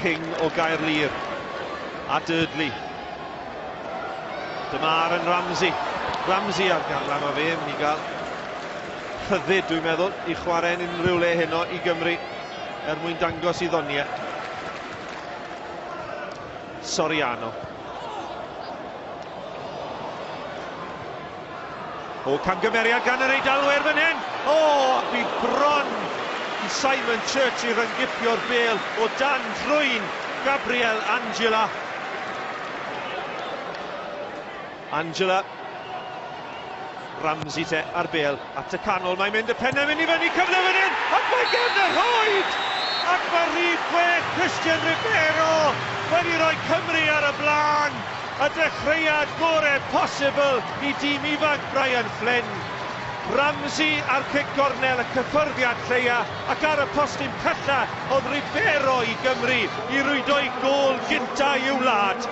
King o Gaerlŷr a Durdley. Dyma Aaron Ramsey. Ramsey ar garlam o fe, mynd i gael rhyddid, dwi'n meddwl, i chwarae'n unrhyw le heno i Gymru er mwyn dangos i ddoniau. Soriano. O, camgymeriad gan yr Eidalwyr fan hyn! O, oh, bu bron i Simon Church i ryngipio'r bel o dan drwyn Gabriel Angela. Angela Ramsey te ar bêl at y canol, mae'n mynd y pennau mynd i fyny, cyfle fan hyn, ac mae gefn y rhoed! Ac mae rhif chwech Christian Ribeiro wedi rhoi Cymru ar y blaen, y dechreuad gorau posibl i dîm ifanc Brian Flynn. Ramsey ar cic gornel y cyffyrddiad lleia ac ar y postyn pella oedd Ribeiro i Gymru i rwydo'i gôl gyntaf i'w wlad.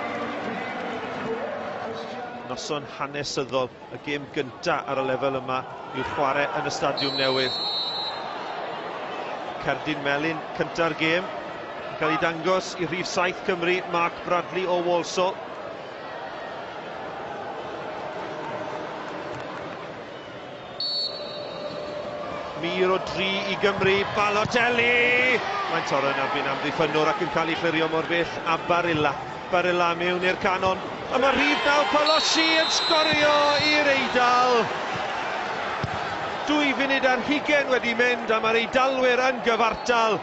Noson hanesyddol, y gêm gyntaf ar y lefel yma i'w chwarae yn y stadiwm newydd. Cerdyn Melin cynta'r gêm, yn cael ei dangos i rhif 7 Cymru, Mark Bradley o Walsall. Mir o dri i Gymru, Balotelli! Mae'n torro yn erbyn amddiffynnwr ac yn cael ei chlirio mor bell a Barilla. Barilla mewn i'r canon, a mae rhif naw Palossi yn sgorio i'r Eidal. Dwy funud ar hugen wedi mynd a mae'r Eidalwyr yn gyfartal.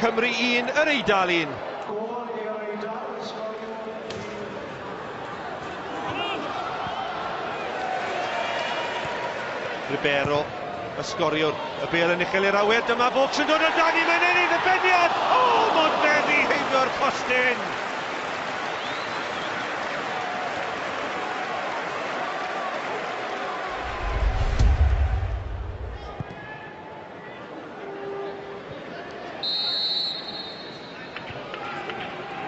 Cymru 1, yr Eidal 1. Gol i'r Eidal yn sgorio i'r Gymru. Ribeiro, y sgoriwr, y bel yn uchel i'r awyr, dyma Vaux yn dod o dan i mae'n ennill y beniad! O, oh, mae'n feddi heibio'r postyn!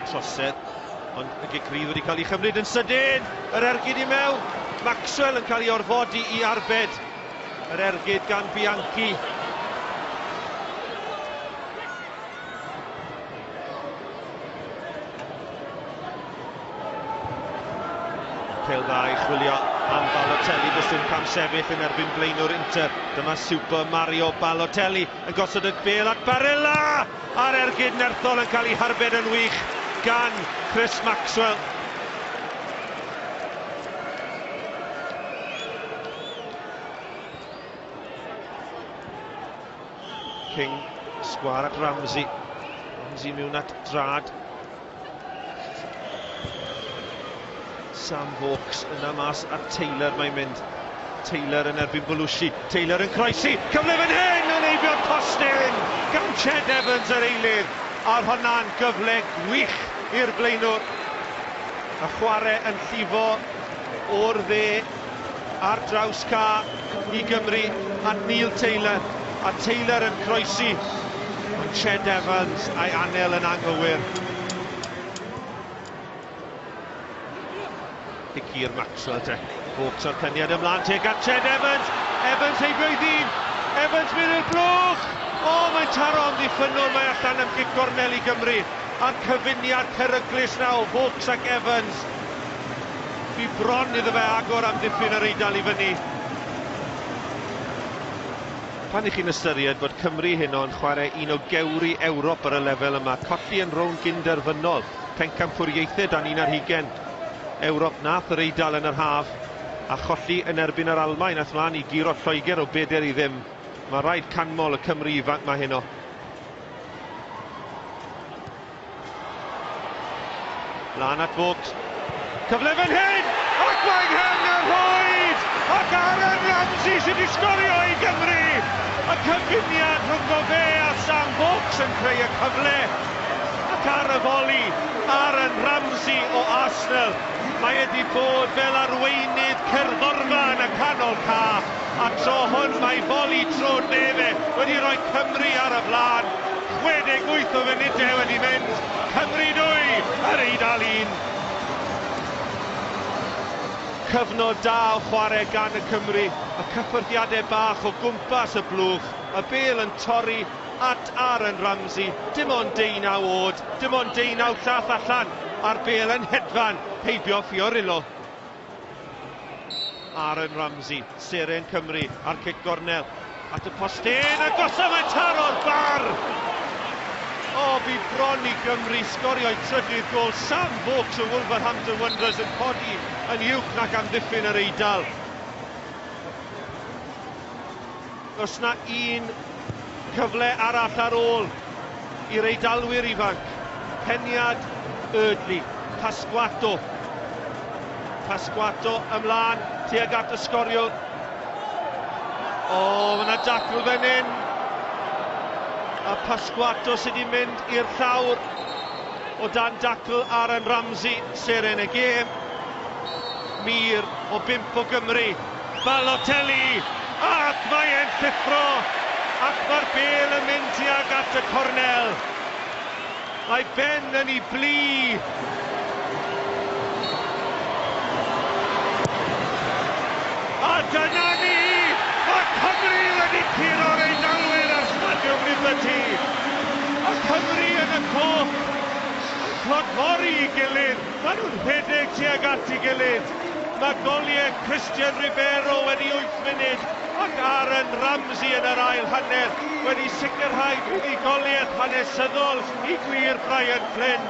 Trosedd, ond y gic rydd wedi cael ei chymryd yn sydyn! Yr ergyd i mewn! Maxwell yn cael ei orfodi i arbed. Yr ergyd gan Bianchi. Pel dda i chwilio am Balotelli, does dim cam sefyll yn erbyn blaenwr Inter. Dyma Super Mario Balotelli yn gosod y bel at Barella! A'r ergyd nerthol yn cael ei harbed yn wych gan Chris Maxwell. King, sgwâr at Ramsey. Ramsey mewn at Drâd. Sam Vokes yna mas at Taylor, mae'n mynd. Taylor yn erbyn Belushi, Taylor yn croesi, cyfle fan hyn yn eifio'r postyn gan Ched Evans yr eilydd, a'r hwnna'n gyfle gwych i'r blaenwr. A chwarae yn llifo o'r dde. Ar draws ca i Gymru at Neil Taylor, a Taylor yn croesi, ond Ched Evans a'i anel yn anghywir. Dicir Maxwell te, bob tro'r cyniad ymlaen te gan Ched Evans, Evans heibio'i ddyn, Evans mynd i'r blwch! O, oh, mae'n taro am ddiffynnwr, mae allan am gic gornel i Gymru, a'r cyfuniad peryglus na o Hawks ac Evans, Bu bron iddo fe agor am dipyn yr Eidal i fyny. Pan i chi'n ystyried bod Cymru heno yn chwarae un o gewri Ewrop ar y lefel yma, colli yn rownd gyn-derfynol, pencampwriaethau dan un ar hugen Ewrop nath yr Eidal yn yr haf, a cholli yn erbyn yr Almaen ath mlaen i guro Lloegr o beder i ddim, mae rhaid canmol y Cymry ifanc ma heno. Lan at Bwc. Cyfle fan hyn! Ac mae Nghangyhoed! Ac Aaron Ramsey sydd wedi sgorio i Gymru! Y cyfuniad rhwng o fe a Sam Bwc yn creu y cyfle. Ac ar y foli, Aaron Ramsey o Arsenal. Mae wedi bod fel arweinydd cerddorfa yn y canol caff. A'r tro hwn mae Boli Tro Nefe wedi rhoi Cymru ar y blaen. 68 o funudau wedi mynd, Cymru 2, yr Eidal 1. Cyfnod da o chwarae gan y Cymry, y cyffyrddiadau bach o gwmpas y blwch, y bêl yn torri at Aaron Ramsey, dim ond deunaw oed, dim ond deunaw llath allan, a'r bêl yn hedfan heibio Fiorillo. Aaron Ramsey, seren Cymru a'r cic gornel at y postyn a gosod mae'n taro'r bar! O, bu bron i Gymru sgorio'i trydydd gol. Sam Vokes o Wolverhampton Wanderers yn codi yn uwch nac amddiffyn yr Eidal. Does 'na un cyfle arall ar ôl i'r Eidalwyr ifanc, Peniad, Eardley, Pasquato. Pasquato ymlaen tuag at y sgoriwr. O, mae yna dacl fan hyn. A Pasquato sydd wedi mynd i'r llawr o dan dacl Aaron Ramsey, seren y gêm. Mir o bimp o Gymru Balotelli, ac mae e'n llithro, ac mae'r bêl yn mynd tuag at y cornel. Mae Ben yn ei blu. Cymru yn y coch yn clodfori i gilydd. Maen nhw'n rhedeg tuag at ei gilydd. Mae goliau Christian Ribeiro wedi wyth munud ac Aaron Ramsey yn yr ail hanner wedi sicrhau buddugoliaeth hanesyddol i gwir Brian Flynn.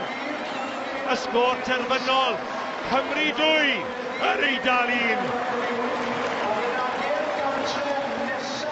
Y sgôr terfynol, Cymru 2, Yr Eidal 1.